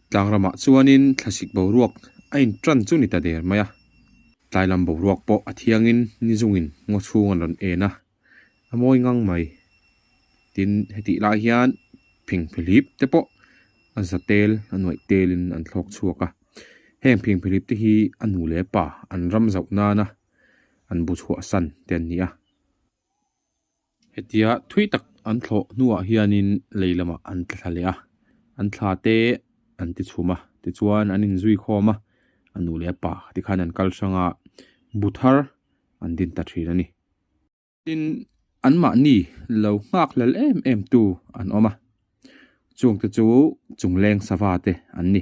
Tlangrama chuanin thlasik boruak a inṭan chu ni ta der mai a, tlailam boruak pawh a thiangin nizungin ngaw chhung an rawn en a, a mawi ngang mai. Tin, hetih lai hian phingphilip te pawh a za tel, a nuaih telin an thlawk chhuak a. Heng phingphilip te hi a nu leh a pa an ram zauh nana an bu chhuahsan te an ni a. Hetia thui tak an thlawh hnuah hianin lei lamah an tla thla leh a, an thla te an ti chhum a, tichuan an inzui khawm a, a nu leh a pa te khan an kalhranga bu thar an din ta thin a ni. Tin, an mahni lo nghak hlel em em tu an awm a, chungte chu chungleng sava te an ni.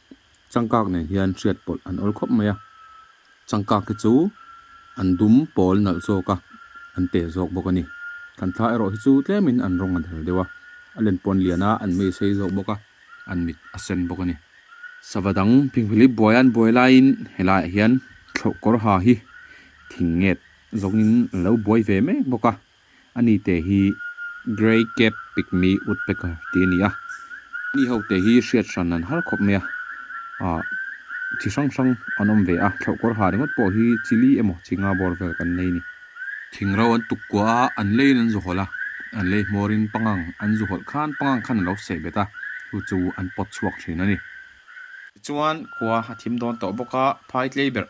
changkak nen hian hriat pawlh an awrh khawp mai a, changkak te chu an dum pawl nalh zawk a, an pe zawk bawk a ni. Kan thla erawh hi chu tlemin an rawng a dal deuh a, a len pawn lian a, an meisei zawk bawk a, an mit a sen bawk a ni. Sava dang Phingphilip buai an buai laiin he laiah hian thlawh kawr ha hi thing nget zawngin an lo buai ve mek bawk a. A ni te hi Grey Cap Pygmy Woodpecker tih a ni a, mi ho te hi hriat hran an har khawp mai a, ah chi hrang hrang an awm ve a, thlauhkawr ha ringawt pawh hi chili emaw chi nga bawr vel kan nei a ni. Thingrau an tuk kuah a, an leiin an zu hawlh a, an lei hmawrin pangang an zu hawlh khan pangang khan an lo seh bet a, chu chu an pawt chhuak thin a ni. Tichuan khua a thim dawn tawh bawk a, phai tlei berh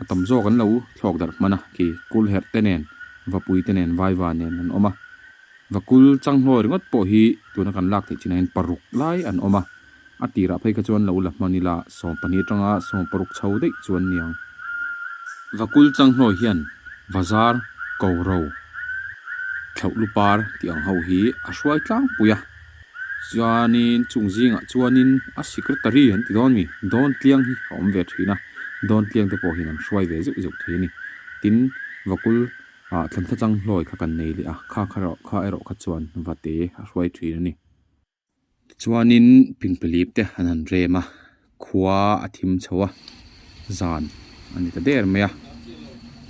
a tam zawk an lo thlawk darh hman a, khi kul herh te nen, vapui te nen, vaiva nen an awm a, va kul changhlawi ringawt pawh hi tuna kan lak theih china in paruk lai an awm a, a tirah phei kha chuan lo la hman ila sawm pahnih atanga sawm paruk chho daih chu an ni ang. Va kul changhlawi hian va zar ko ro, thlauhlu par tih ang ho hi a hruai tlangpui a, Chuanin chung zingah chuanin a secretary an ti dawn mi Dawn Tliang hi a awm ve thin a, Dawn Tliang te pawhin an hruai ve zeuh zeuh thei a ni. Tin, Vakul ah Thantla Changhlawi kha kan nei leh a, kha kha erawh kha erawh kha chuan va te a hruai thin a ni. Tichuanin Pingpalip te an han rem a, khua a thim chho a, zan a ni ta der mai a,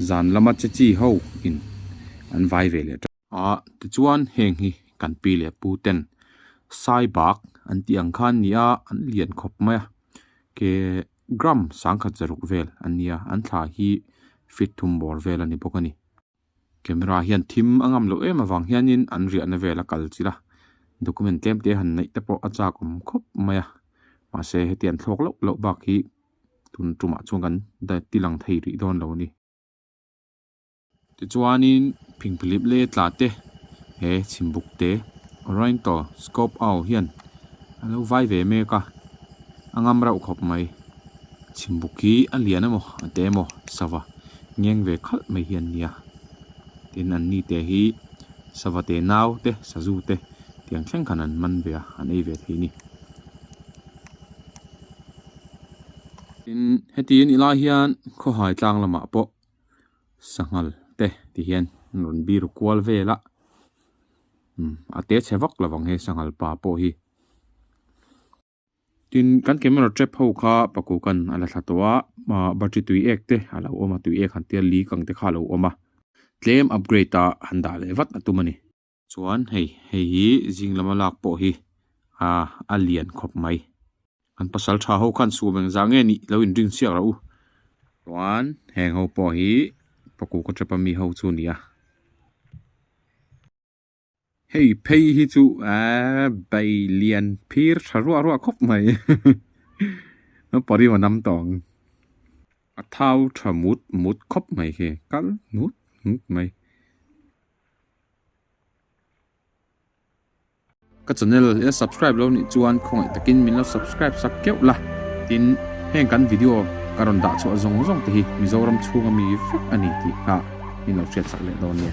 zan lama che chi ho in an vai ve leh tawh. A, tichuan heng hi kan pi leh pu ten sai bak an tih ang kha an ni a, an lian khawp mai a, ke gram sangkhat zaruk vel an ni a, an thla hi fit thum bawr vel a ni bawk a ni. Camera hian thim a ngam lo em avang hianin an riahna vel a kal chilh a, document tlem te han neih te pawh a chak awm khawp mai a, mahse heti an thlawk loh loh bak hi tun tumah chuan kan ti lang thei rih dawn lo a ni. Tichuanin phingphilip leh tlate he chhimbuk te Oriental Scope Au hian a lo vai ve mek a, a ngam rauh khawp mai. Chhimbuk hi a lian emaw a te emaw sava ngeng ve khalh mai hi an ni a. Tin an ni te hi sava te nau te sazu te tiang thleng khan an man ve a, an ei ve thei ni. Tin hetihin i lai hian khawhai tlang lamah pawh sanghal te ti hian an rawn bir kual vel a umm a te chhe vak lo ang he sanghal pa pawh hi tin kan camera trap ho kha paku kan a la thla tawh a ah battery tui ek te a lo awm a tui ek han tia li kang te kha a lo awm a tlem upgrade ah han dah leh vat a tum a ni. Chuan hei hei hi zing lama lak pawh hi ah a lian khawp mai. Kan pasal tha ho khan suam eng zah nge nih lo in ring chiak ro u. Chuan heng ho pawh hi paku ka tap a mi ho chu nia. Hei phei hi chu ah bei lian phir tha ruah ruah khawp mai. Ka pari ma nam tawng. A thau tha mut mut khawp mai khi kal nut nut mai. Ka channel i la subscribe lo nih chuan khawngaih takin min lo subscribe sak keuh la. Tin, heng kan video ka rawn dah chhuah zawng zawng te hi Mizoram chhunga mi vek a ni tih kha min lo hriat sak leh dawn nia.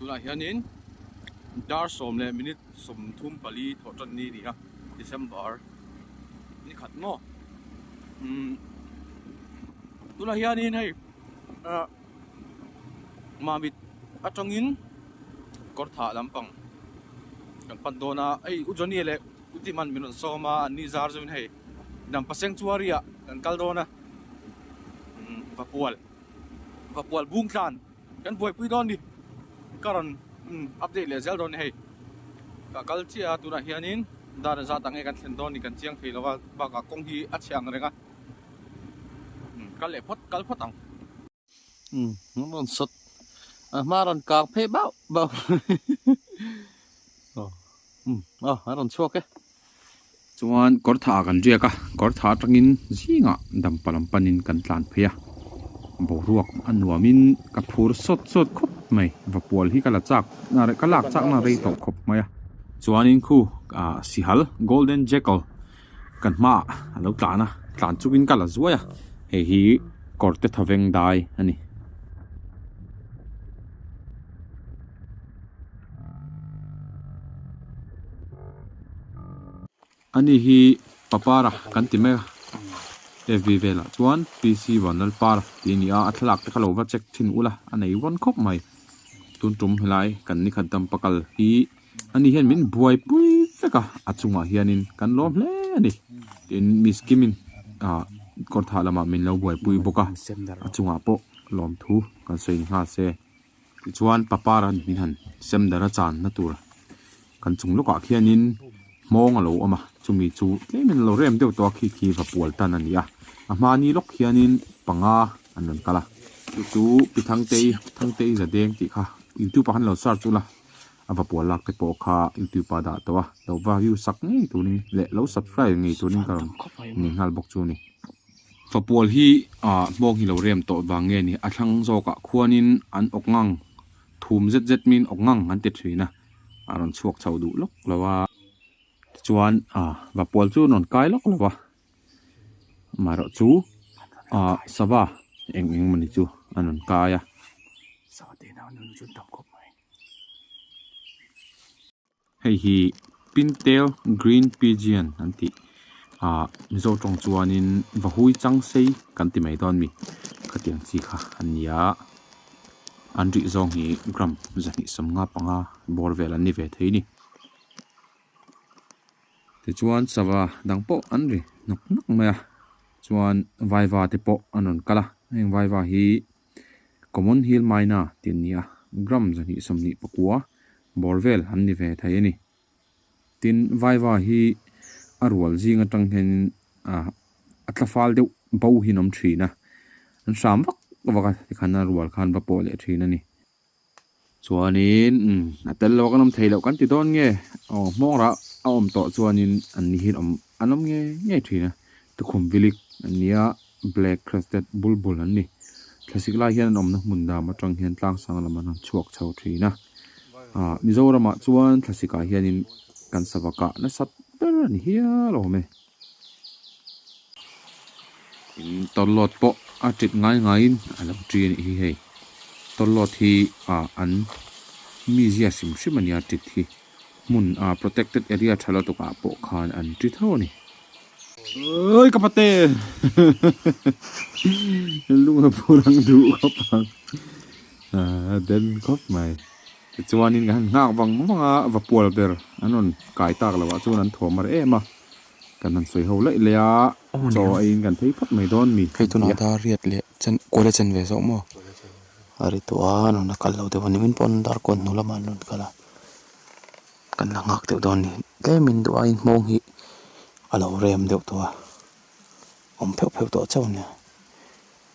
tunah hianin dar sawm leh minute sawmthum pali thawh tan ni nia December ni khat maw umm tunah hianin hei ah mamit atangin kawr thah lampang kan pan dawn a hei u Johnny leh u Timan min rawn sawm a an ni zar zawin hei inang paseng chu a ri ah kan kal dawn a umm va pual. Vapual bung tlan kan buaipui dawn ni ka rawn update leh zel dawn ni hei ka kal chiah a tunah hianin dana zat ange kan thlen dawn ni kan chiang thei lova bakah kawng hi a chhe ang reng a kal leh phawt kal phawt ang um rawn sawt a hma rawn kang phei bauh bauh oh um a rawn chhuak e Chuan kawr thah ah kan riak a, kawr thah atangin zingah dam pal an pan in kan tlan phei a, boruak a nuam in ka phur sawt sawt khawp mai, va pual hi ka la chak ka lak chak na rei tawh khawp mai a, chuan in khu ah sihal golden jackal kan hma ah a lo tlan a, tlan chuk in ka la zuai a, hei hi kawr te tha veng dai a ni. Ani hi papara kan ti mai a, fb velah chuan PC Van Lalpar tih a ni a, a thlalak te ka lo va check thin ula a nei vawn khawp mai, tun tum helai kan ni khat dam pakal hi ani hian min buaipui vek a, a chungah hianin kan lawm hle a ni tiin miss Kim in ah kawr thah lamah min lo buaipui bawk a, a chungah pawh lawm thu kan sawi ni nghal se. Tichuan pa par a nih han sem darh a chan na tur kan chung lawk ah khian in hmawng a lo awm a, chumi chu tlem in a lo rem deuh tawh a khi khi va pual tan a ni a, a hma ni lawk khian in panga an rawn kal a. Chu chu Pi Thangtei, Thangtei Zadeng tih kha youtube ah khan lo search u la, a va pual lak te pawh kha youtube ah dah tawh a, lo va view sak ngei tur in leh lo subscribe ngei tur in ka rawn ni nghal bawk chu a ni. Fa pawl hi ah hmawng hi lo rem tawh vang nge ni? A thlang zawkah khuanin an awk ngang, thum zet zet min awk ngang an ti thin a, a rawn chhuak chho duh lawk lo a. Tichuan ah va pawl chu an rawn kai lawk lo a, amaherawh chu ah sava eng eng mawni chu an rawn kai a. Hei hi Pintel Green Pigeon an tih a Mizo tawng chuanin vahui chang sei kan ti mai dawn mi khatiang chi kha an ni a, an rih zawng hi gram zahnih sawm nga panga bawr vel an ni ve thei ni. Tichuan sava dang pawh an ri nawk nawk mai a, chuan vaiva te pawh an rawn kal a, heng vaiva hi-- Common hil maina tih an nia, gram zahnih sawmhnih pakua bawr vel an ni ve thei a ni. Tin, vaiva hi a rual zing atang hianin a tla fal deuh bo hian awm thin a, an hram vak vak a tikhan a rual khan va pawh leh thin a ni. Chuanin, Umm, a tel loh kan awm thei loh kan ti dawn nge? Aw, hmawngrah a awm tawh chuanin an ni hi'n awm, an awm ngei ngei thin a, Tukhum Vilik an nia, Black Crested Bulbul an ni. Thlasik lai hian an awmna hmun dam atang hian tlangsang lam an han chhuak chho thin a. Aah, Mizoramah chuan thlasikah hianin kan savakah nasat ber a ni hial awm e. Tawlawt pawh a ṭit ngai ngaiin a lo ṭi a nih hi hei. Tawlawt hi ah an mi ziah hrim hrim a nia ṭit hi. Hmun ah protected area ṭha lutuk ah pawh khan an ṭi tho a ni. Ui ka pate! Lung a phur ang duh khawp ang. Aa den khawp mai. Tichuanin kan han nghak vang vang a, va pual ber an rawn kai tak lo ah chuan an thuam mar em a, kan han sawi ho laih laih a, chaw aiin kan phei phawt mai dawn mi. Hei tunah dar riat leh chen kual a chen ve zawh maw? A ri tawh a, an rawn la kal lo deuh a, nimin pawh an dar kual hnu lamah an rawn kal a, kan la nghak deuh dawn ni. Tlemin duh a, inhmawng hi a lo rem deuh tawh a, awm pheuh pheuh tawh chauh nia.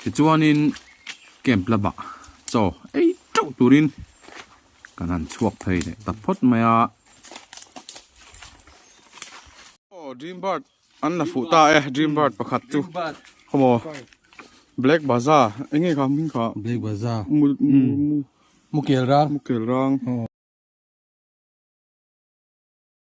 Tichuanin camp lamah chaw ei teuh turin kan han chhuak phei leh ta phawt mai a. Aw dream bird an la fuh ta e dream bird pakhat chu khawm aw black bazaar eng nge kha hming kha black bazaar mu mu mukelrang mukelrang.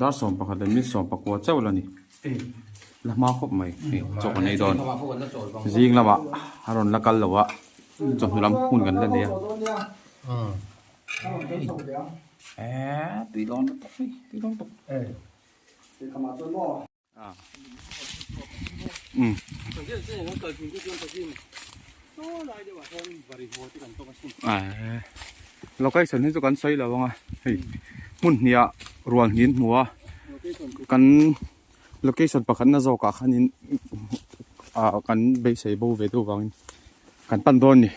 Dar sawm pakhat leh mil sawm pakua chauh la ni. La hma khawp mai ni chaw kan nei dawn. Zing lamah a rawn la kal loh a, chawhnu lam hun kan la nei a. Eeii tui lawm lutuk mai, tui lawm lutuk. location hi chu kan sawi lo ang a hei hmun hniah rual hnih an hmu a kan location pakhatna zawk ah khanin ah kan beisei bo ve deuh vangin kan pan dawn a ni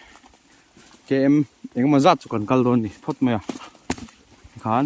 kem engemaw zat chu kan kal dawn a ni phawt mai a tikhan.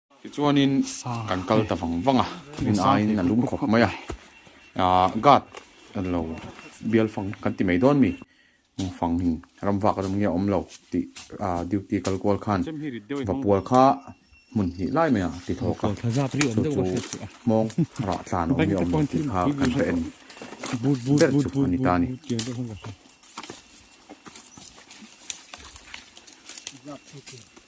Tichuanin kan kal ta vang vang a, min aiin a lum khawp mai a, aah guard an lo bial fang kan ti mai dawn mi fangin ram vak ram nge a awm lo tih aah duty kal kual khan va pual kha hmun hnih lai mai a ti thawk a, chu chu hmawng rah tlan awm hi a awm lo tih kha kan hre en ber chu a ni ta a ni.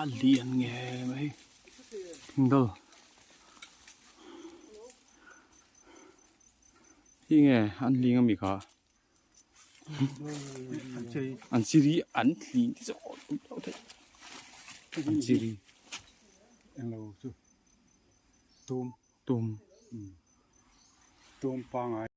a lian nge mai himdol hi nge an ling ami kha an siri an thli so an siri ang lo chu tum tum tum pangai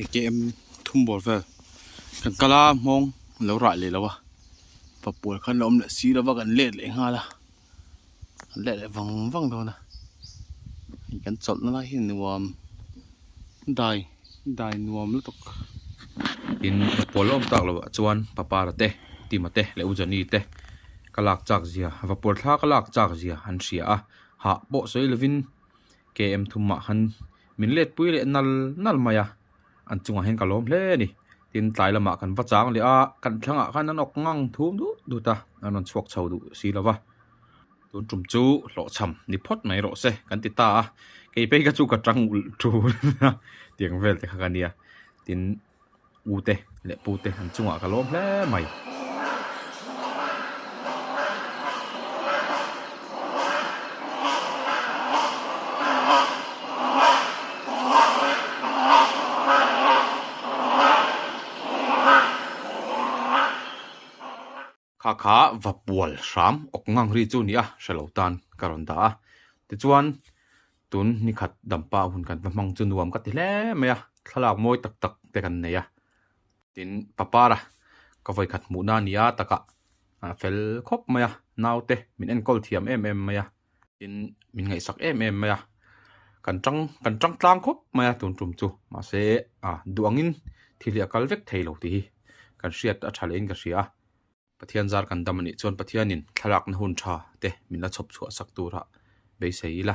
atm thum bawr vel kan kal a hmawng an lo raih leh lo a pa pawl kha an lo awm leh si lo va kan let leh nghal a an let leh vang vang dawn a hei kan chawlhna lai hi nuam dai dai nuam lutuk in pa pawl a awm tak lo ah chuan pa para te tima te leh u jani te ka lak chak zia vapawrh thla ka lak chak zia an hria a hah pawh sawi lovin KM thum mah khan min letpui leh nal nal mai a, an chungah hian ka lawm hle a ni. Tin, tlai lamah kan va chang leh a, kan thlangah khan an awk ngang thum dut dut a, an rawn chhuak chho duh si lo va. Tun tum chu hlawhchham ni phawt mai rawh se kan ti ta a, kei phei ka chu ka tang ulh ṭun a, tiang vel te kha ka nia. Tin. ute leh pute an chungah ka lawm hle mai. Kha kha va pual hram awk ngang ri chu nia hre lo tan ka rawn dah a, tichuan tun ni khat dampa hun kan va hmang chu nuam ka ti hle mai a, thlalak mawi tak tak te kan nei a, tin papara ka vawikhat hmuhna nia takah fel khawp mai a, naute min enkawl thiam em em mai a. tin min ngaihsak em em mai a kan tang kan tang tlang khawp mai a tun tum chu mahse a duangin thil hi a kal vek thei lo tih hi kan hriat a tha leh in ka hria a pathian zar kan dam anih chuan pathianin thlalakna hun tha te min la chhawp chhuah sak tura beisei ila.